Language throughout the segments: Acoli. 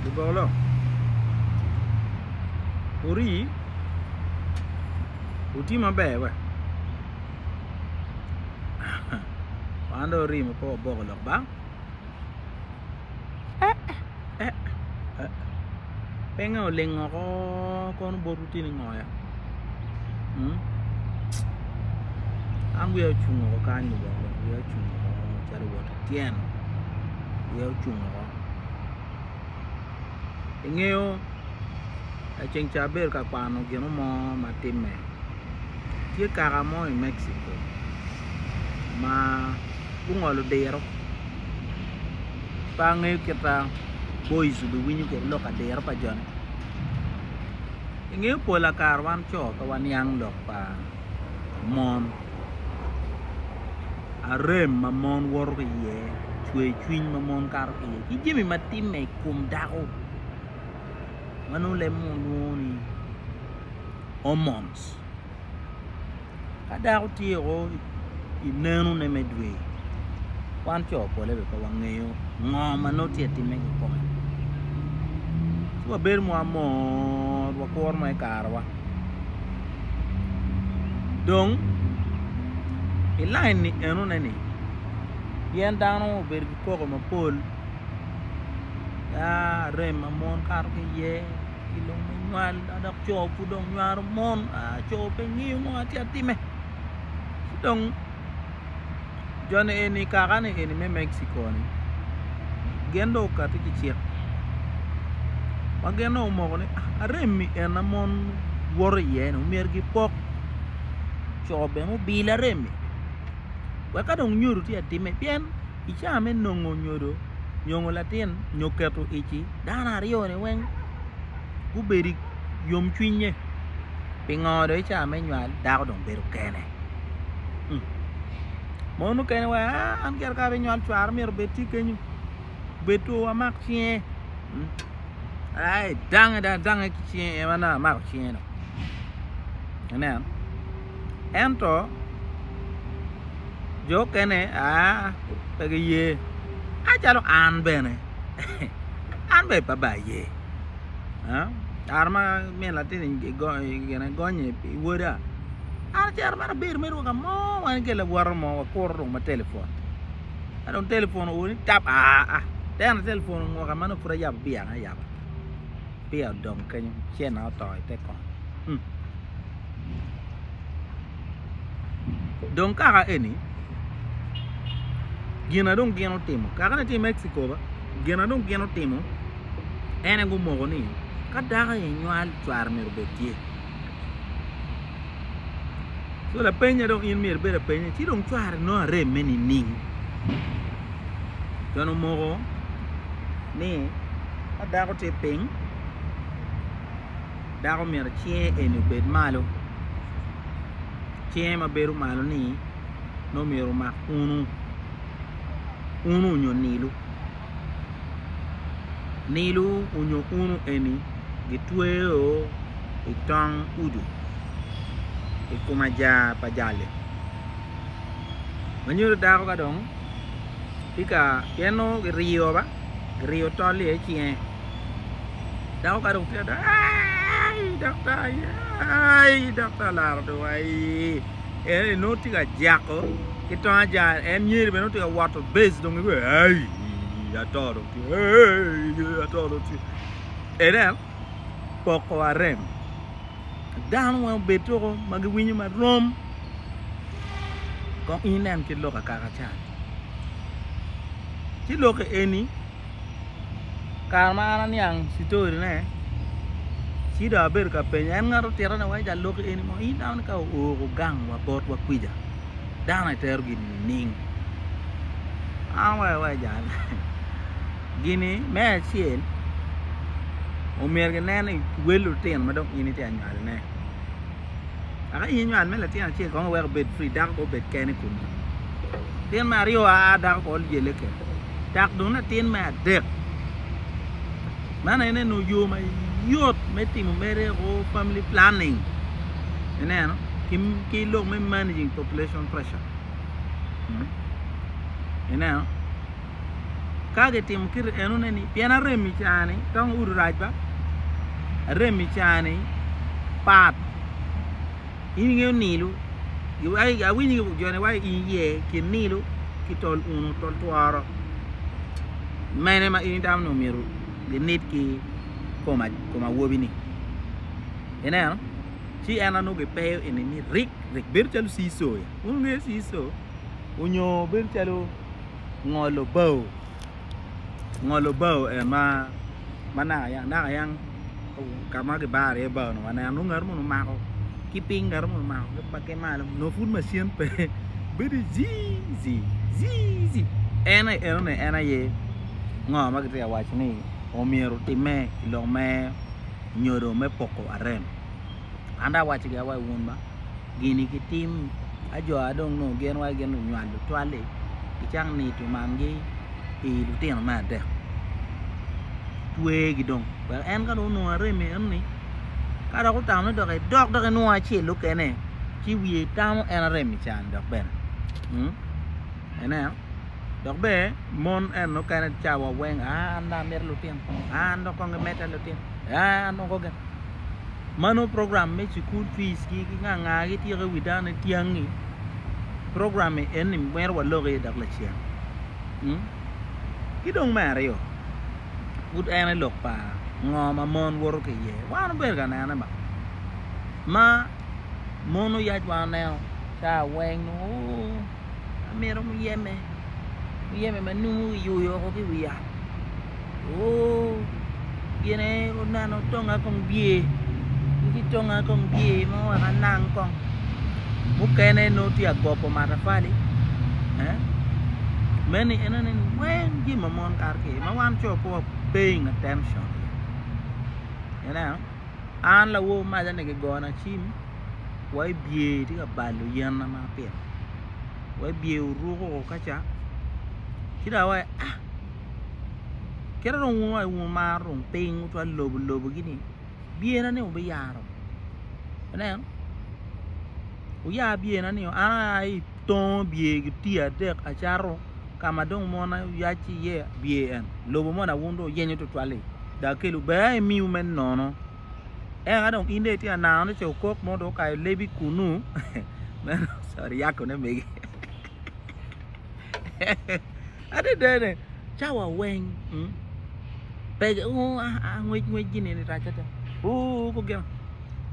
Libolo ori oti maber we wan dong ori ma pe waboko lok ba. Pinga oleng oko kono bot wutini ngoya? Hmm? An wiya ocung oko kany lubongo, wiya ocung oko calo wot tyen. Wiya ocung oko. Ingeyo laceng ca abedo ka kwano gino mo ma timme. Tye kaka mo i Mexico ma gungolo diro. pe angeyo kit ma boys obiwinyo kwede lok adiro pa jone ingeyo pol pa kare wan co pe waniang lok pa mon arem ma mon woto ki iye cwercwiny ma mon kato ki iye ki jami ma timme i kom dako ma nongo leb munu lwongo ni hormones. Ka dako tye o i neno ne me dwe wan coo pole pe wangeyo ngo ma nongo tye time ki kome ci wa bedo ma mor wa kuro me kare wa dong i lain ni eno ne ni pien dano obedo ki koko mapol yaa rem ma mon kato ki iye i lok me nywal dok co pud dong nywaro mon co pe ngiyo ngo ma tye ka timme ci dong joni eni kaka ni eni me Mexico ni gin dong okati ki cik ma gin dong omoko ni arem-mi en ma mon woto iye ni myero gipok co bene obilo arem-mi wek ka dong nyodo tye ka timme pien I caa me nongo nyodo, nyongo latin nyo keto ici, dano aryo ni weng gubedo iyom cwinye pingo do i caa me nywal dako dong bedo kene mon mukene wa an gire ka abino nywal cwara myero obed tye kenyo obed two amak cinge aye dange dong adange ki cinge en aye amako cinge dong ineno. Ento jo okene pe giye acalo an bene an bene pe ba aye kare ma min latin igonyo i woda an acito mere abedo mere woko amo wan ki lawote mo wakuru dong ma telefon ka dong telefon owo ni tap aa tena telefon onwoka ma nongo pud ayabo biya na ayaba biya odong kenyo cen na oto ite kony. dong kaka eni gina dong gin otimo kaka ni tye i Mexico ba gina dong gin otimo ene gumoko ni ka dako aye nywal cware myero obed tye so lapeny ma dong in myero ibed apenye ci dong cware nongo areme nining con omoko ni ka dako tye piny dako myero cinge eni obed malo cinge ma bedo malo ni nongo myero omak unu unu nyo nilu, nilu nyo unu eni gitweyo i tong udu i kom ajaa pa jal-li ma nyuto dako ka dong tye ka pien nongo kiriyo ba kiriyo tol-li aye cinge. Dako ka dong tye adada aii daktar aye aii daktar laro odong aii en ni nongo tye ka jako ki tong ajara en nyeri bene nongo tye ka woto base dong iye aii ato dong tye aii ato dong tye inen poko wa rem dano weng obed tuko ma giwinyo ma rom kong inen kit lok akaka can ci lokke eni Kare ma an aniang citori ne ci dong abedo ka penyo en ngat otito ne wa ica lok eni mo in dano ni ka oko gang wa bot wa kwica dano aye tero gini nining an wa awaco ni gini me acel omyero ki nen ni wel lutino ma dong in itye ka nywali ne dok ka in inywal me latin acel kong iweko obed free dako kong obed kene i kome latin me aryo aa dako kong lyelle kene. dok dong latin me adek. Man aye neno yo mayot me timo mere o family planning ineno ki lok me managing population pressure ineno ka gitimo kiti enone ni pien arem i cani tong udi rac ba arem i cani pat. In ingeyo nilo, awinyo ki jone wa in iye kin nilo ki tol uno tol tworo mene ma in itamo ni omyero ginit ki kom awobi ni ineno ci en anongo gipeyo ini ni rik rik bedo calo sii soya wun wungeyo sii so onyo bedo calo ngolo bao ngolo bao en ma ma naka yam naka yam ka ma kibaro iye bao-nu waneno nongo ngat moni omako ki piny ngat moni omako ki malo nongo pud macin pe bedo jiiji jiiji en aye enoni en aye ngo ma kitye ka waco ni omyero otimme i lok me nyodo me poko arem an dong awaco gi awaca wun ma gini ki tim ajua dong nongo gin wa gin lunywal lutwal-li ki cak nito mangi i lutino me adek twegi dong wek en ka dong onongo arem enoni ka dok otamone dok edok dok enongo acel mukene ci wiye tamo en arem-mi can dok bene ineno dok bene mon eno mukene cawa weng aa an dong amito lutino aa an dong kong gimedda lutino. aa anoko gin ma nongo program me cukul fic ki nga nga gityeko i wi dano ni tyangi program eni twero walok iye dok lacen ki dong me aryo pud en aye lok pa ngo ma mon woto ki iye wan obedo ka nene ba ma mon oyac wa oneno ca weng nongo oo amito muyeme muyeme ma nongo kiyuyo woko ki i wi yat. Ooh gine oneno tonga kong bye ki tonga kong bye ma oweko anang kong mukene nongo tye agopo matapali eh meni enoni weng jami ma mon kato kwede ma wan co pe wa paying attention aye ineno an lawo maca ni kigona cim wa ibye itye ka balo yen na ma apito wa ibye oruko kaca ci dong awaco ah Kit ma dong wun wumaro dong piny cwalo lobo lobo gi ni byena ni wubiyaro ineno wuya byena nio an aya ki itongo byer gi tii adek acato ka ma dong mon aye wuyac ki iye byer en lobo moni wun dong wuyenyo tutwal li dong akelu ber aye imiu me nono eka dong in dong itye ka nano ni ce okok mo dong okayo lebi kunu sorry yako ne mege. Adadane, cawa weng pe ngwec ngwec gini ni rac ada. Oo ko gino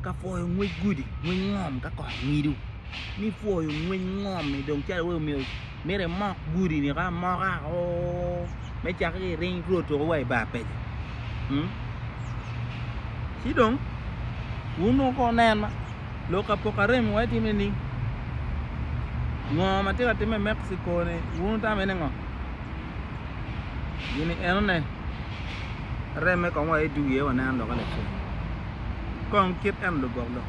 ka pwoyo ngwec gudi, ngwec ngom ka kot ngido ni pwoyo ngwec ngom ni dong calo wai omyero myero imok gudi ni ka amoka oo me cake ki ring two tuko wa ibar peco. Ci dong wun woko nen ma. Lok apokarem wa itime ni ngo matye ka time Mexico ni wunu tamo ene ngo gini enone reme kong wa idugi aye waneno loke lacen kong kit en lubok lok.